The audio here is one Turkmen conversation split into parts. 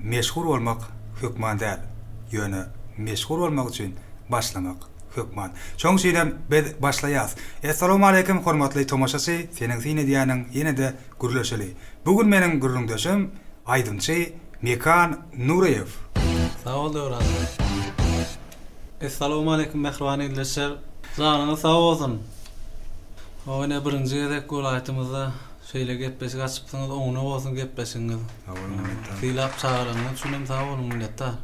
Meşhur bolmak hökman däl, ýöne meşhur bolmak üçin başlamak hökman. Şoň üçinem biz başlaýas. Essalawmaleýkim hormatly tomaşaçy seniň syn edýäniň ýenede gürleşeli. Bu gün meniň gürrüňdeşim aýdymçy Mekan Nuryýew. Sag bol Döwran. Essalawmaleýkim mähriban ildeşler. Janyňyz sag bolsun. Howine birinji gezek welaýatymyzda Şeýle gepleşik açypsyňyz oňuna bolsun gepleşigiňiz. Sag boluň minnetdar. Sylap çagyranyňyz üçin hem sag boluň minnetdar.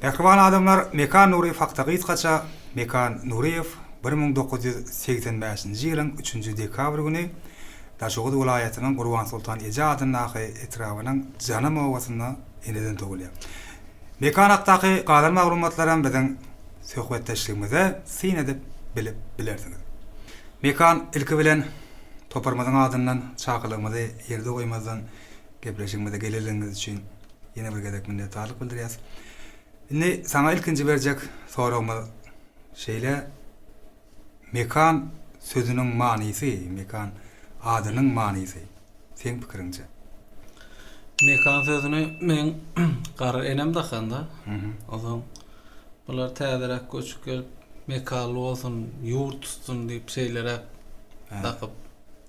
Mähriban adamlar Mekan Nuryýew hakda gysgaça Mekan Nuryýew bir müň dokuz ýüz segsen bäşinji ýylyň üçünji dekabr güni Daşoguz welaýatynyň Gurbansoltan eje adyndaky etrabynyň Janam obasynda eneden tugulýar. Mekan hakdaky galan maglumatlaram biziň söhbetdeşligimize syn edip bilip bilersiňiz. Mekan ilki bilen. Toparymyzyň adyndan çakylygymyzy ýerde goýmazdan gepleşigimize gelenligiňiz üçin ýene bir gezek minnetdarlyk bildirýäs. Indi saňa ilkinji berjek soragymyz şeýle, Mekan sözüniň manysy, Mekan adynyň manysy seň pikiriňçe? Mekan sözüni meň gara enem dakanda, ozal Bular täzeräk göçüp gelip, mekanly bolsun, ýurt tutsun diýip, şeýleräk dakyp,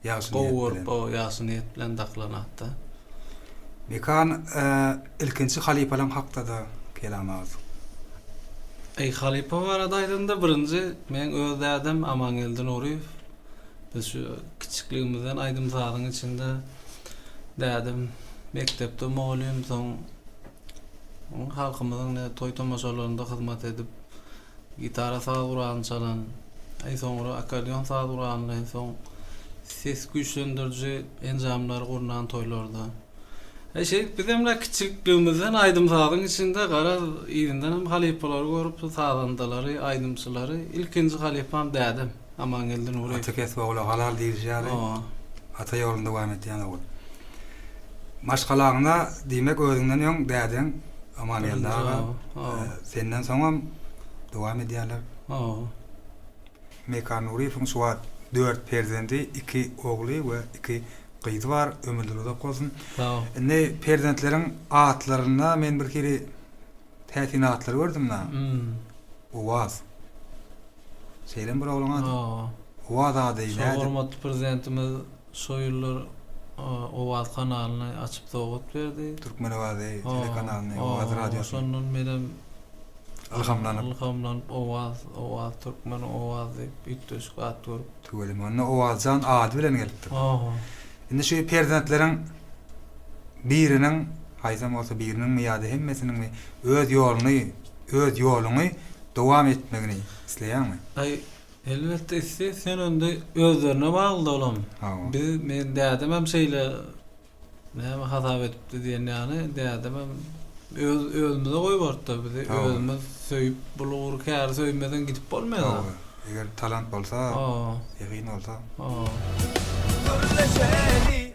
Ýagşy gowy niýet görüp, bilen. o, ýagşy niýet bilen dakylan at-da. Mekan, e, ilkinji halypalaň hakda-da kelam agz. Eý, halypa barada aýdanda, birinji, meň öz dädem Amangeldi Nuryýew. Biz şu kiçikligimizden aýdym-sazyň içinde, dädem mekdepde mugallym, soň Halkymyzyň ne toý-tomaşalarynda hyzmat edip, gitara saz guralyny çalan, eý soňra akkordeon saz guralyny, eý soň ses güýçlendiriji enjamlary gurnan toýlarda. Eý şeýdip bizem la kiçilikligimizden aýdym-sazyň içinde garaz yzyndan hem halypalary görüp sazandalary, aýdymçylary ilkinji halypam dädem. Amangeldi Nuryýew. Ata kesbi ogla halal diýlişi ýaly, ata ýoluny dowam etýän ogul. Maşgalaňda, diýmek, özüňden öň dädeň Amangeldi aga, senden soňam dowam edýärler. Mekan Nuryýewiň şu wagt dört perzendi, iki ogly we iki gyzy bar. Ömürleri uzak bolsun. Indi perzentleriň atlaryna men birhili Täsin atlar gördüm da. Owaz. Şeýlem bir oglan ady. Owaz ady nädip? Hormatly prezidentimiz şo ýyllar Owaz kanalyny açyp sowgat berdi. Türkmen owazy telekanalyny, Owaz radiosyny. Şondan menem ylhamlanyp. Ylhamlanyp Owaz, Owaz türkmen, Owaz diýip üýtgeşik at görüp. Tüweleme onda Owazjan ady bilen gelipdir. Indi şu perzentleriň biriniň, haýsam bolsa biriniňmi ýa-da hemmesiniňmi öz ýoluny, öz ýoluňy dowam etmegini isleýäňmi? Aý, elbetde isleýän. Sen onda özlerine bagly-da olam. Hawa. Biz, meniň dädemem şeýle näme hasap edipdi diýen ýaly, dädemem öz, özümize goýberipdir bizi. Hawa. Özümiz söýüp, bulgur, käri söýmeden gidip bolmaýar-a. Hawa, eger talant bolsa, Hawa. zehin bolsa. Hawa. Gürleşeli,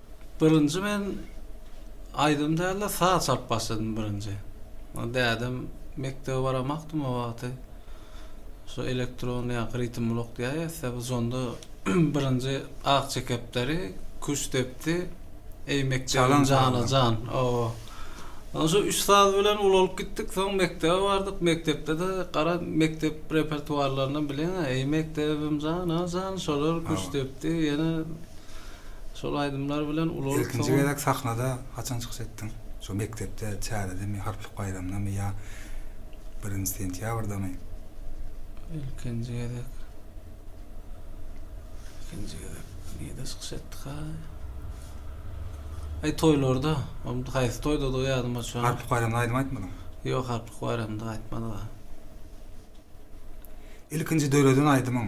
Birinji men aýdym dälde saz çalyp başladym birinji. Ol dädem mekdebe baramakdym o wagty. Şu elektron ýa ritm blok diýýär ýa bu zonda birinji ak çekepderi, kuş depdi, eý mekdebim jana jan. Owo. Şu üç saz bilen ulalyp gitdik, soň mekdebe bardyk, mekdepde-de gara mekdep repertuarlaryny bileňä, eý mekdebim jana jan, şolar kuş depdi, ýene Şol aýdymlar bilen ulaltsaň. Ilkinji gezek sahnada haçan çykyş etdiň? Şo mekdepde, çäredemi, harplyk baýramdamy ýa birinji sentýabrdamy? Ilkinji gezek. Ilkinji gezek nirde çykyş etdikaý? Aý toýlarda. Ol haýsy toýdadygy ýadyma düşenok. Harplyk baýramda aýdym aýtmadyň? Ýok, harplyk baýramda aýtmadyga. Ilkinji döreden aýdymyň?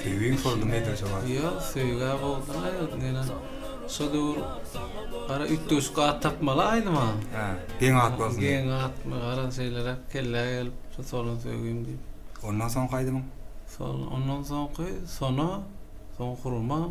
Söýgiň soldumy edil jogap. Ýok, söýgä bolduň aýdym diňe. Şo döwür gara üýtgeşik at tapmaly aýdyma. Hä, geň at bolsun. Geň at, gara şeýleräk kellä gelip, şu solun söýgim diýip. Ondan soňky aýdymyň? Sol, ondan soňky Sona, soň Hurma.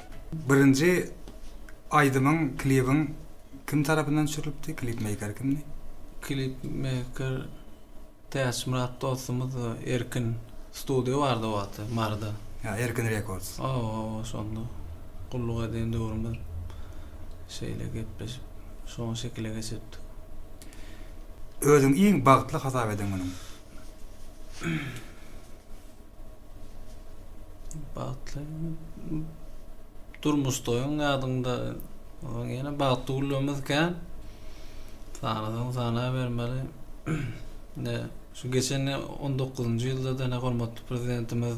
Birinji aýdymyň klibiň kim tarapyndan düşürilipdi? Klip meýker kimdi? Klip meýker Täçmyrat dostumyz we Erkin studio bardy o wagty Maryda. Ýa Erkin Records. Hawa hawa şonda gulluk eden döwrümiz şeýle gepleşip şoň şekile geçiripdik. Özüňi iň bagtly hasap eden günüň? Bagtly durmuşdaýyň ýadyňda onuň ýene bagtly günlerimiz kän. Sanasaň sanabermeli. Ne şu geçen 19-njy ýylda da ne hormatly prezidentimiz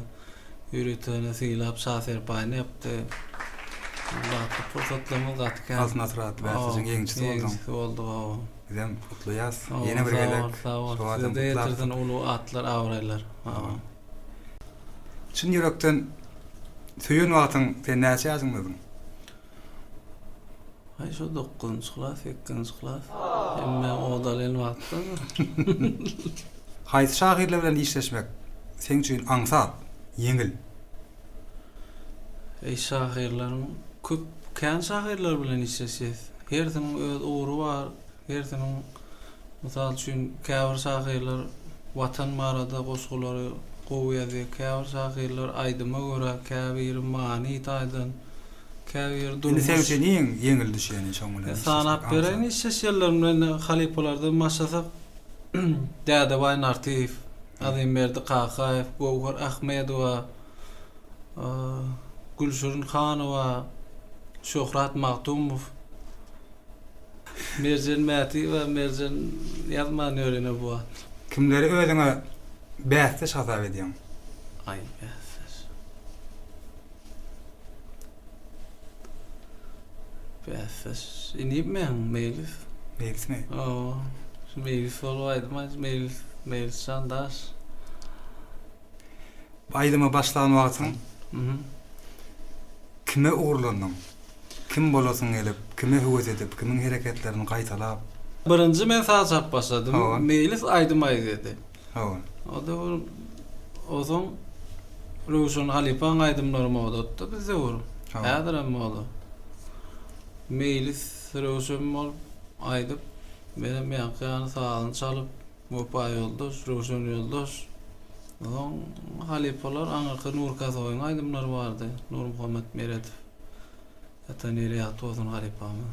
ýöriteni sylap şa serpaýyny ýapdy. Bagtly pursatlarymyz gaty kän. Altyn asyrada bäsdeşiň ýeňijisi bolduň. Ýeňijisi boldy. Bizem gutlaýas. Ýene bir gezek. Sag bol, sag bol. Size-de ýetirsin uly atlar, abraýlar. Çyn ýürekden söýen wagtyň sen näçe ýaşyňda özüň? Aý şu dokuzynjy klas, sekizinji klas. Hemme odalyn wagtda. Haýsy şahyrlar bilen işleşmek seň üçin aňsat, ýeňil? Eý şahyrlaryň köp kän şahyrlar bilen işleşýäs. Hersiniň öz ugry bar, hersiniň mysal üçin käbir şahyrlar watan barada goşgulary gowy ýazýar, käbir şahyrlar aýdyma görä, käbiri many taýdan, käbiri durmuş. Indi sebite neýiň ýeňil düşýäni şoň bilen işleşmek. Sanap bereýin işleşýänlerimi indi halypalardan başlasak Dädebaý Nartyýew, Azimberdi Kakaýew, Göwher Ahmedowa, Gülşirin Hanowa, Şöhrat Magtymov, Merjen Mätiýewa, Merjen ýazman ýör ine bu wagt. Kimleri özüňe bäsdeş hasap edýäň? Aý bäsdeş. Bäsdeş inip men meýlis. Meýlismi? Oo, şu meýlis bolup aýdym meýlis, meýlis jan daş. Aýdyma başlan wagtyň Mhm. kime ugurlandyň? Kim bolasyň gelip, kime höwes edip, kimiň hereketlerini gaýtalap? Birinji men saza çap başladym. Hawa. Meýlis aýdym aýdýardy. Hawa. Oda bir ozaň Röwşen halypaň aýdymlary modatda biz döwür. Häzir hem moda. Meýlis Röwşen bolup aýdyp, menem ýaňky ýany sazyny çalyp, Wepa ýoldaş, Röwşen ýoldaş. Ozaň halypalar aňyrky Nur Kasowyň aýdymlary bardy, Nurmuhammet Meredow. Ata nire ýatdy bolsun halypamy.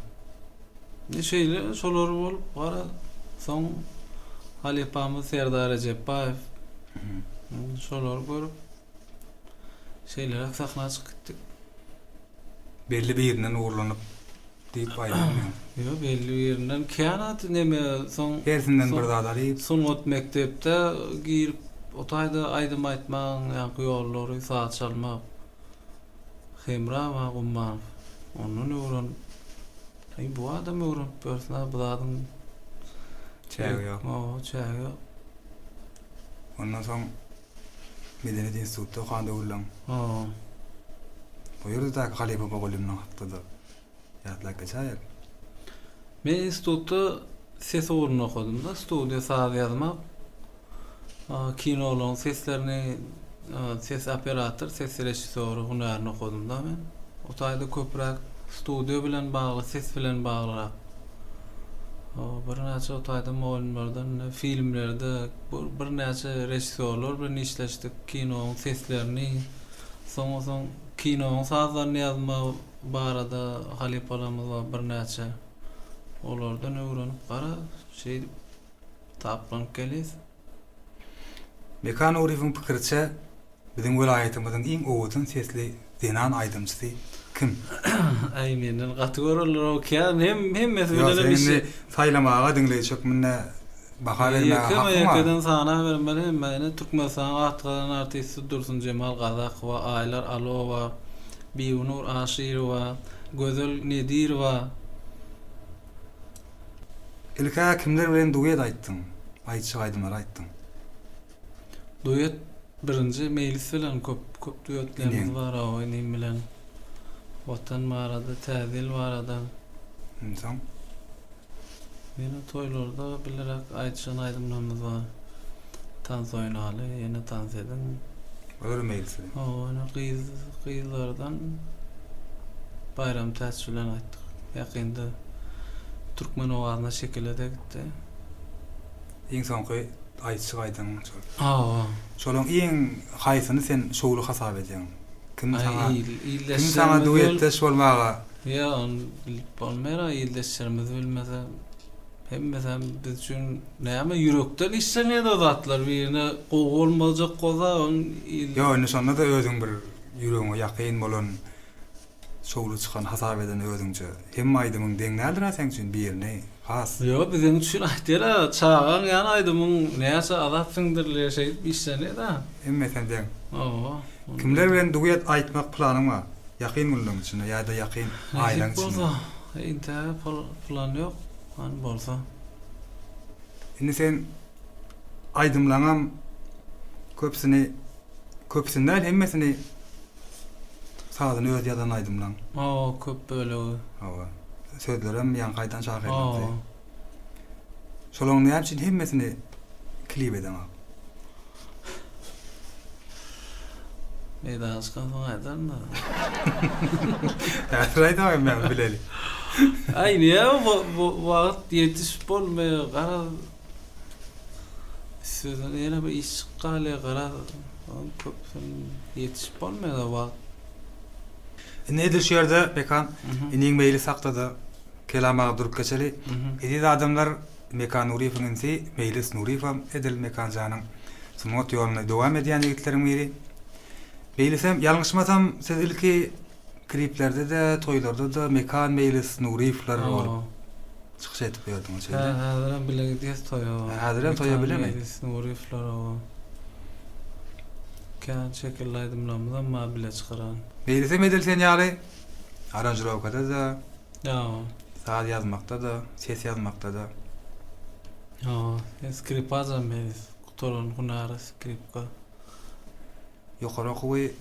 Indi şeýle şolar bolup gara soň halypamyz Serdar Rejepbaýew hmm, şolary görüp şeýleräk sahna çykyp gitdik. Belli birinden ugrulanyp diýip aýdýan. Ýo belli birinden kän at neme soň hersinden bir zat alyp sungat mekdepde girip o taýda aýdym aýtmaň ýaňky ýollary saz çalmak. Hemrawa Gummanow ondan öwren. Eý bu adam öwrenip bersin-ä bu zadyň Çägi ýok. Hawa, çägi ýok. Ondan soň Medeniýet instituty okan döwürleň. Hawa. O ýerde däki halypa Bogulýumdan hakda-da. Ýatlap geçäýelim. Men institutda ses ugruny okadym-da, studiýa saz ýazmak, kinolaryň seslerini, ses operator, ses režissýory hünärini okadym-da men. O taýda köpräk studiýa bilen bagly, ses bilen baglyrak birnäçe o taýda mugallymlardan ine filmlerde birnäçe režissýorlar bilen işleşdik, kinoň seslerini, soň-soň kinoň sazlaryny ýazma barada halypalarymyz bar birnäçe olardan öwrenip gara şeýdip taplanyp gelýs. Meka Nuryýewiň pikiriçe biziň welaýatymyzyň iň owadan sesli zenan aýdymçysy kim? Aý menden gaty görenler okýa hemmesi bilenem işi. Ýok sen indi saýlamaga diňleýji hökmünde baha bermäge hakyň bar. Ýekeme ýekeden sanabermeli emma ine Türkmenistanyň at gazanan artisti Dursunjemal Gazakowa, Aýlar Alowa, Bibinur Aşyrowa, Gözel Nedirowa. Ilk-ä kimler bilen duet aýtdyň? Aýtjak aýdymlary aýtdyň. Duet birinji Meýlis bilen köp köp duetlerimiz bar hawa inim bilen. Watan barada, Täze ýyl barada. Onsoň? Ýöne toýlarda bilerek aýdyşan aýdymlarymyz bar. Tans oýnaly, ýene tans ediň. Örmeýlisi. Hawa, ýöne gyz gyzlardan Baýram Täç bilen aýtdyk. Ýakynda türkmen owazyna şekile-de gitdi. Iň soňky aýdyşyk aýdyň şol. Hawa. Şolaň iň haýsyny sen şowly hasap edýäň? Kim saňa Aý, il, ildeşlerimiz Kim saňa duetdeş bolmaga Ýok, ony bilip bolmaýar-a, ildeşlerimiz bilmese, hemmesem biz üçin näme, ýürekden işlemeýär o zatlar, birine gowy bolmajak bolsa, onuň il. Ýok, indi şonda-da özüň bir ýüregiňe ýakyn bolan, şowly çykan hasap eden özüňçe. Hemme aýdymyň deň däldir-ä seň üçin, birini Aslya biziň üçin aýtýara çagaň ýany aýdymyň näçe azap siňdirlýär şeýdip işlenýäda. Hemmesine deň. Hawa. Kimler bilen duet aýtmak planyň bar? Ýakyn günleriň içinde ýa-da ýakyn aýlaryň içinde. Nesip bolsa. Entäge plan ýok. Hany bolsa. Indi seň aýdymlaňam köpüsini köpüsini däl hemmesini Sazyny öz ýazan aýdymlaň. Hawa köp bölegi. Hawa. Sözlerem ýaňky aýdan şahyrlardy. Hawa. Şolaň näme üçin hemmesini klip edeň ak. Meýdana çykan soň aýdaryn da. Häzir aýda hem näme bileli. Aý näme wagt ýetişip bolmaýar garaz. Üstesine ýene bir iş çykgaly garaz onuň köpüsini ýetişip bolmaýar-a wagt. Indi edil şu ýerde, Pekan, iniň meýli sakda-da, Kelam aga durup geçeli. Eziz adamlar, Mekan Nuryýewiň inisi Meýlis Nuryýewem edil Mekan janyň sungat ýoluny dowam edýän ýigitleriň biri. Meýlisem, ýalňyşmasam, siz ilki Kliplerde-de, toýlarda-da Mekan Meýlis Nuryýewler bolup çykyş edip ýördiňiz şeýle. Hä, häzirem bile gidýäs toýa. Häzirem toýa bilemi? Mekan Meýlis Nuryýewler hawa. Kän şekilli aýdymlarymyzam bar bile çykaran. Meýlisem edil sen ýaly aranžirowkada-da. Hawa. Saz ýazmakda-da, ses ýazmakda-da. Hawa, men skripajam Meýlis. Gutaran hünäri skripka. Ýokary okuwy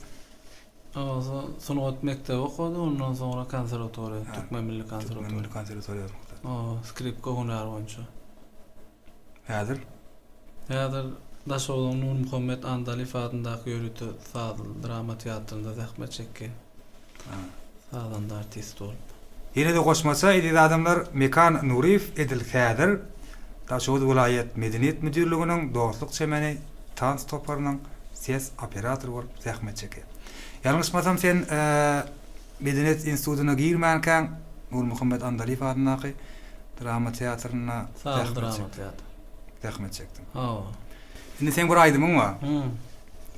Awaza sungat mekdebi okady, ondan soňra konserwatoriýa, Türkmen milli konserwatoriýasy. Türkmen milli konserwatoriýasyny okady. Hawa, skripka hünäri boýunça. Häzir? Häzir Daşogzuň Nurmuhammet Andalyýew adyndaky ýörite sazly drama teatrynda zähmet çekýär. Sazanda artist bolup. Ýene-de goşmaça, eziz adamlar, Mekan Nuryýew edil häzir Daşoguz welaýat Medeniýet müdirliginiň Dostluk çemeni tans toparynyň ses operatory bolup zähmet çekýär. Ýalňyşmasam sen Medeniýet institutyna girmänkäň Nurmuhammet Andalyýew adyndaky drama teatrynda Saz drama teatry. Zähmet çekdiň. Hawa. Indi seň bir aýdymyň bar.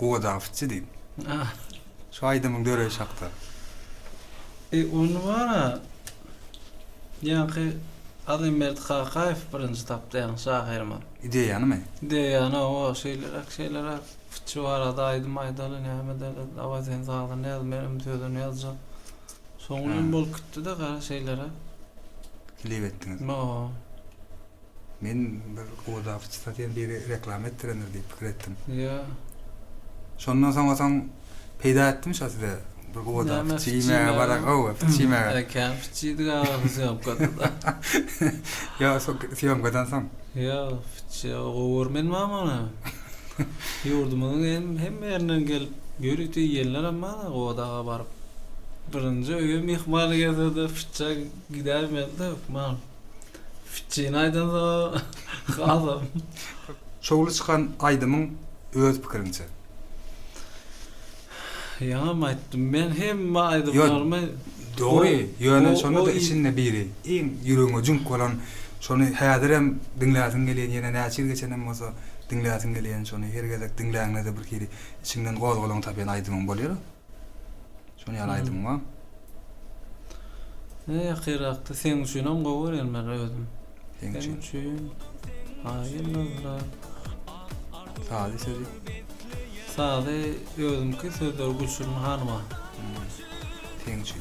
Gowa dabtçy diýip. Şu aýdymyň döreýşi hakda. E ony bar-a, ýaňky Azimberdi Kakaýew birinji tapdy ýaňky şahyrymyz. Ideýanymy? Ideýany, hawa, şeýleräk, şeýleräk, şu barada aýdym aýdaly, näme edeli, dawaý sen sazyny ýaz, menem sözüni ýazjak. Soň bilen bolup gitdi-de gara şeýleräk. Klip etdiňiz. Hawa. Men bir gowudawçy zat diýen biri reklama etdirendir diýip pikir etdim. Ýa. Şondan soň otaň peýda etdimi şo size? Bir gowuda fitçi iýmäge bara gowy, fitçi iýmäge. Eke, fitçidik aga syýomkada-da. Ýa, şo syýomkadan soň? Ýa, fitçi gowy görmedim ama ony. Ýurdumyzyň hem hemme ýerinden gelip, ýörite iýenler hem bar-a gowuda aga baryp. Birinji öýe myhman gelse-de fitçä gidäýmez-de hökman. Fitjini aýdanda adam. Şowly çykan aýdymyň öz pikiriňçe. Ýaňam aýtdym men hemme aýdymlarymy Dogry, ýöne şonda-da içinde biri, iň ýüregiňe jüňk bolan, şony häzirem diňläsiň gelýän, ýene näçe ýyl geçenem bolsa diňläsiň gelýän, şony her gezek diňläňde-de birhili içiňden gozgalaň tapýan aýdymyň bolýar. Şony ýaly aýdym bar. Ne ýakyrrakda sen üçin hem gowy görýän men özüm. Sen üçin. üçin. Aýylmazda. Sazy sözi. Sazy özümki sözleri Gülşirin hanyma. Sen üçin.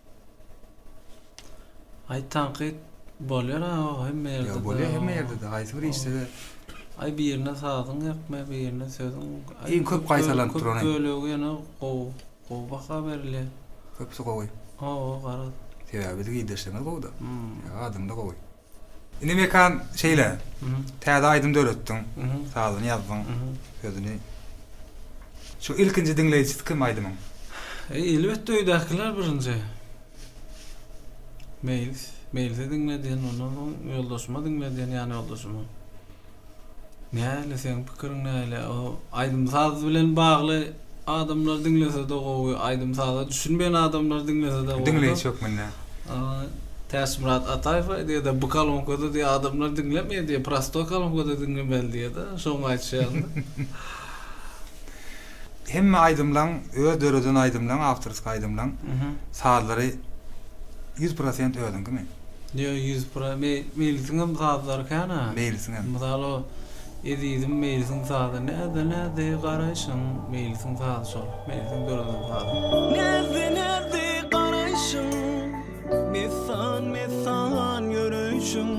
Aý tankyt bolýar a o hemme ýerde. Ýa bolýar hemme ýerde de haýsy bir işde de. Aý birine sazyň ýakmaýar birine sözüň. Iň köp gaýtalanyp duran. Köp bölegi ýene gowy. Gowy baha berilýär. Köpüsi gowy. Hawa garaz. Sebäbi biziň ildeşlerimiz gowy da. Adyň da gowy. Indi Mekan şeýle. Täze aýdym döretdiň. Sazyny ýazdyň. Sözüni. Şu ilkinji diňleýjisi kim aýdymyň? E, elbetde öýdäkiler birinji. Meýlis, Meýlise diňledýän, ondan soň ýoldaşyma diňledýän, ýan ýoldaşyma. Näle seň pikiriň näle o aýdym saz bilen bagly adamlar diňlesede gowy aýdym saza düşünmeýän adamlar diňlesede gowy. Diňleýji hökmünde. Täçmyrat Ataýew aýdýada bu kalonkada diýe adamlar diňlemeýär diýe prosto kalonkada diňlemeli diýeda şoňa aýtýada. Hemme aýdymlaň öz döreden aýdymlaň awtorski aýdymlaň sazlary ýüz prosent özüňkimi? Ýo ýüz pro me Meýlisiňem sazlary kän a. Meýlisiňem. Mysal o Ezizim Meýlisiň sazy näzde näzdi garaýşyň Meýlisiň sazy şol Meýlisiň döreden sazy. Näzde näzdi garaýşyň Messan messan ýöreýşiň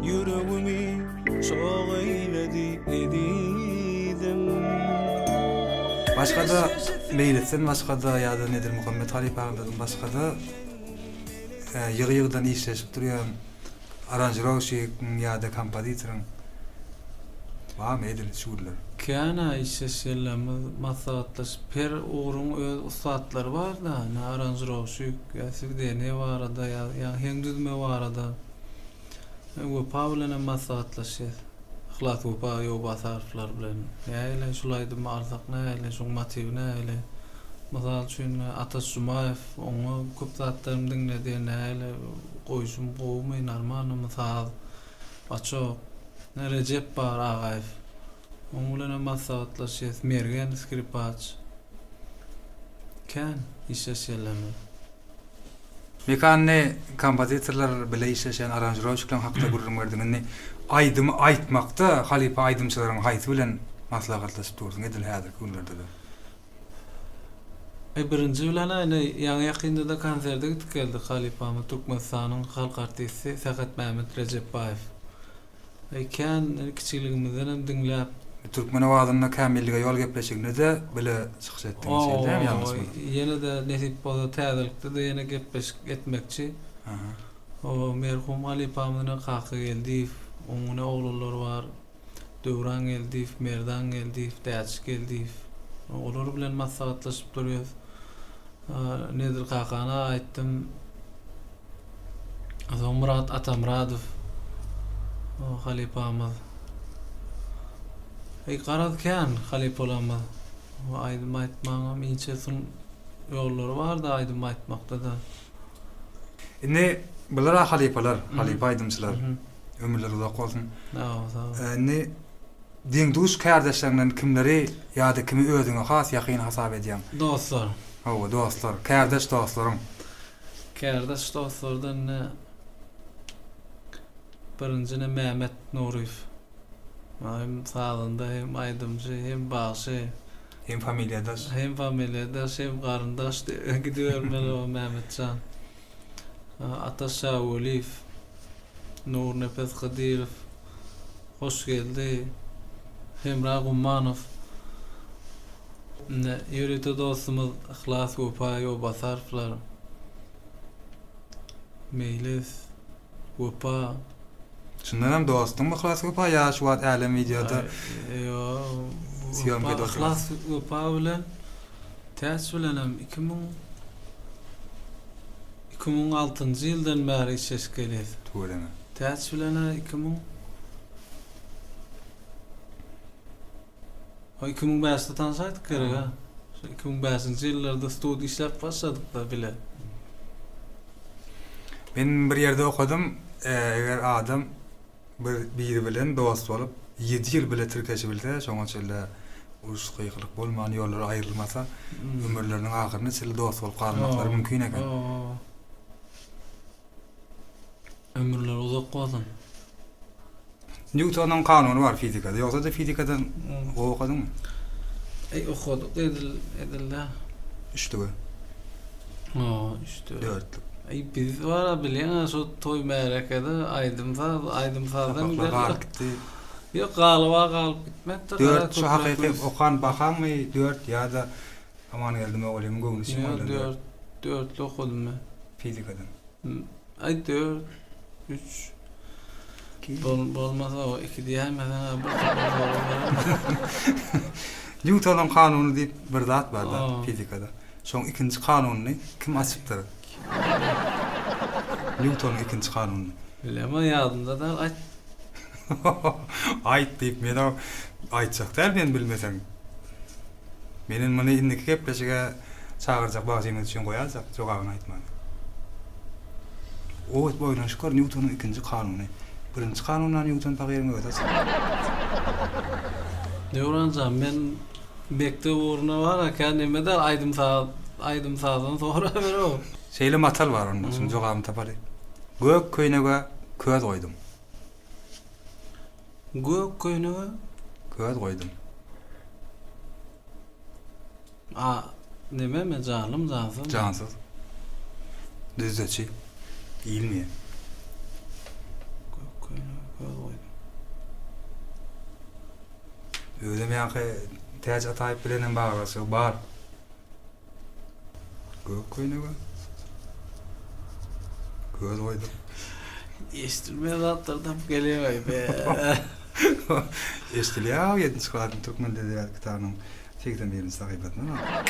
Ýüregimi Çogy eýledi ezizim. Başgada Meýlitden başgada ýada Nedir Muhammet halypa agyndan başgada ýygy ýygydan işleşip durýan aranžirowşigiň ýada kompozitoryň barmy edil şu günler? Känä işleş ýyllarymyz maslahatlaşyp her ugruň öz ussatlary barda ine aranžirowşik ýa swideniýe barada ýa heň düzme barada Wepa bilen hem maslahatlaşýas. Yhlas Wepa Ýowbasarowylar bilen nähili şul aýdymy alsak nähili, şuň motiwi nähili? Mysal üçin, Ataş Jumaýew, oňa köp zatlarym diňledi, nähili, goýşum gowumy, normalnymy, saz, baçok. Rejep bar Agaýew, Oň bilen hem maslahatlaşýas. Mergen skripaç. Kän işleş ýerlerinde. Mekanly kompozitorlar bile işleşen aranžirowşiklaň hakda gürrüň berdiň. Indi aýdymy aýtmakda halypa aýdymçylaryň haýsy bilen maslahatlaşyp dursuň edil häzirki günlerde-de? Eý birinji bilen-ä indi ýaňy ýakynda-da konserde gitip geldik halypamy Türkmenistanyň halk artisti Sähetmämmet Rejepbaýew Eý kän kiçiligimizden hem diňläp. Türkmen owazynda Kämillige ýol gepleşiginde-de bile çykyş etdiňiz şeýle dämi ýalňyşmasam. Oý ýene-de nesip bolsa täzelikde-de ýene gepleşik etmekçi. O merhum halypamyzyna Kaka Geldiýew, oňňine oglanlary bar, Döwran Geldiýew, Merdan Geldiýew, Däçi Geldiýew. Olar bilen maslahatlaşyp durýas. Nedir kakana aýtdym. Azamyrat Atamyradow halypamyz. Eý garaz kän halypalarymyz. Aýdym aýtmagyňam inçe sun ýollary bar-da aýdym aýtmakda-da. Indi bular-a halypalar, halypa aýdymçylar. Ömürleri uzak bolsun. Sag bol, sag bol. Indi deň-duş kärdeşleriňden kimleri ýa-da kimi özüňe has ýakyn hasap edýäň? Dostlar. Hawa, dostlar. Kärdeş dostlaryň. Kärdeş dostlardan ne birinji ne Mämmet Nuryýew. Maňa hem sazanda hem aýdymçy hem bagşy. Hem familiýadaş. Hem familiýadaş hem garyndaş diýip gidibermeli o Mämmetjan. Ataş Şawulyýew, Nurnepes Hydyrow. Hoş geldi Hemra Gummanow. Ine ýörite dostumyz Yhlas Wepaýew Obasarowylar. Meýlis Wepa. Şundan hem dostuň Yhlas Wepa ýa şu wagt älem wideoda. Ýok Yhlas Wepa bilen Täç bilenem iki müň Iki müň altynjy ýyldan bäri işleşip gelýäs. Tüweleme. Täç bilen-ä iki müň O iki müň bäşde tanşaýdyk gerek-ä. Şu iki müň bäşinji ýyllarda studiýa işläp başladyk-da bile. Men bir ýerde okadym, eger adam Bir biri bilen dost bolup ýedi ýyl bile tirkeşibilse şoňa çenli uruş gykylyk bolman ýollary aýrylmasa ömürleriniň ahyryna çenli dost bolup galmaklary mümkin eken. Ömürleri uzak bolsun. Nýutonyň kanuny bar fizikada. Ýogsa-da fizikadan gowy okadyňmy? Eý okadyk edil edilde. Üçlüge. O, işte. Dörtlük. Ay biz var bilen şu toy märekede aýdym saz, aýdym sazdan Sapaklar galyp gitdi. Ýok, galyba galyp gitmekdir. Dört şu hakyky okan bahaňmy dört ýa-da Amangeldi mugallymyň göwnüçin goýlan dört. Dörtlü okadym men. Fizikadan. Aý dört. Üç. Bol, bolmaz o, iki diýäýmeseň, a, bir tane dogry biler. Nýutonyň kanuny diýip bir zat bar-da O. fizikada. Şoň ikinji kanunyny kim açypdyr? Nýutonyň ikinji kanunyny. Bilemok, ýadymda däl, aýt. Aýt diýip, men-ä aýtjak däl men bilmeseň. Meniň muny indiki gepleşige çagyrjak wagzymyz üçin goýaljak, jogabyny aýtmaly. Owes boýuna şükür Nýutonyň ikinji kanuny. Birinji kanundan Nýuton pahyryň özi çykýar. Döwran jan men mekdep ugruna bararkän neme der aýdym saz aýdym sazdan soraberow. Şeýle matal bar onda şuň jogabyny tapaly. Gök köýnege köz goýdum. Gök köýnege göz goýdum. A nimemi janlym jansyzmy? Jansyz. Düzdeçi. Diýilmeýä. Gök köýnege göz goýdum. Özem ýaňky Täç Ataýew bilenem baglaşygy bar. Gök köýnege göz goýdum. Eşdilmeýän zatlar tapyp gelýär be. Eşdilýär, 7-nji klasyň türkmen edebiýaty kitabynyň 81-nji sahypasyndan aldyk.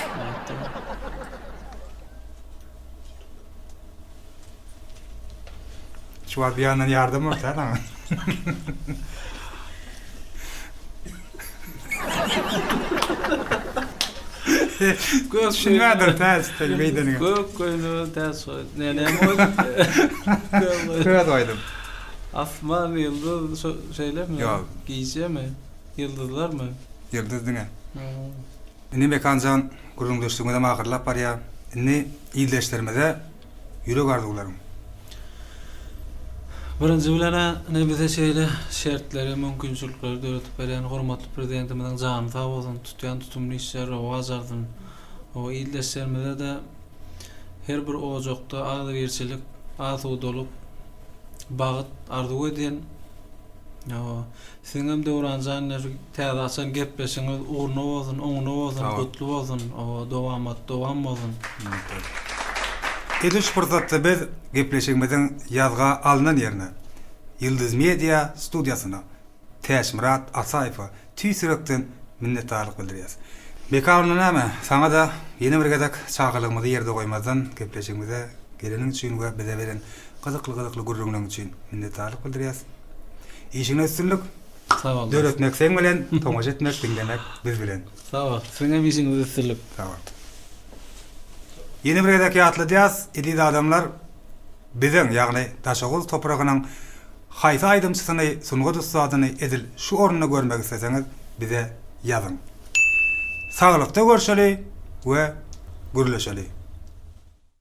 Şu wagt bir ýandan ýardam bolsa saňa. Gök şungadyr täs sen beýdeniň. Gök göýnü täs goý. Ne ne goý? Köz goýdum. Asman ýyldyz şeýlemi? Ýok. Gijemi? Ýyldyzlarmy? Ýyldyz diňe. Indi Mekan jan gürrüňdeşligimizem ahyrlap barýar. Indi ildeşlerimize ýürek arzuwlaryň. Birinji bilen-ä ine bize şeýle şertleri, mümkinçilikleri döredip berýän hormatly Prezidentimiziň jany sag bolsun, tutýan tutumly işleri rowaç alsyn. Hawa, ildeşlerimize-de her bir ojakda agzybirçilik, asudalyk, bagyt arzuw edýän. Hawa, Siziňem Döwranjan iner täze açan gepleşigiňiz ugruna bolsun oňuna bolsun gutly bolsun oba dowamat dowam bolsun. Minnetdar. Edil şu pursatda biz gepleşigimiziň ýazga alnan ýerine Ýyldyz Media studiýasyna Täçmyrat Ataýewe tüýs ýürekden minnetdarlyk bildirýäs. Meka onda näme saňada ýene bir gezek çagylygymyzy ýerde goýmazdan gepleşigimize geleniň üçin we bize beren Gyzykly gyzykly gürrüňleň üçin minnetdarlyk bildirýäs. Işiňde üstünlik. Sag bol. Döretmek seň bilen, tomaşa etmek, diňlemek biz bilen. Sag bol. Siziň hem işiňizde üstünlik. Sag bol. Ýene bir gezek ýatladýas, eziz adamlar, biziň, ýagny Daşoguz topragynyň haýsy aýdymçysyny, sungat ussadyny edil şu orunda görmek isleseňiz bize ýazyň. Saglykda görşeli we gürleşeli.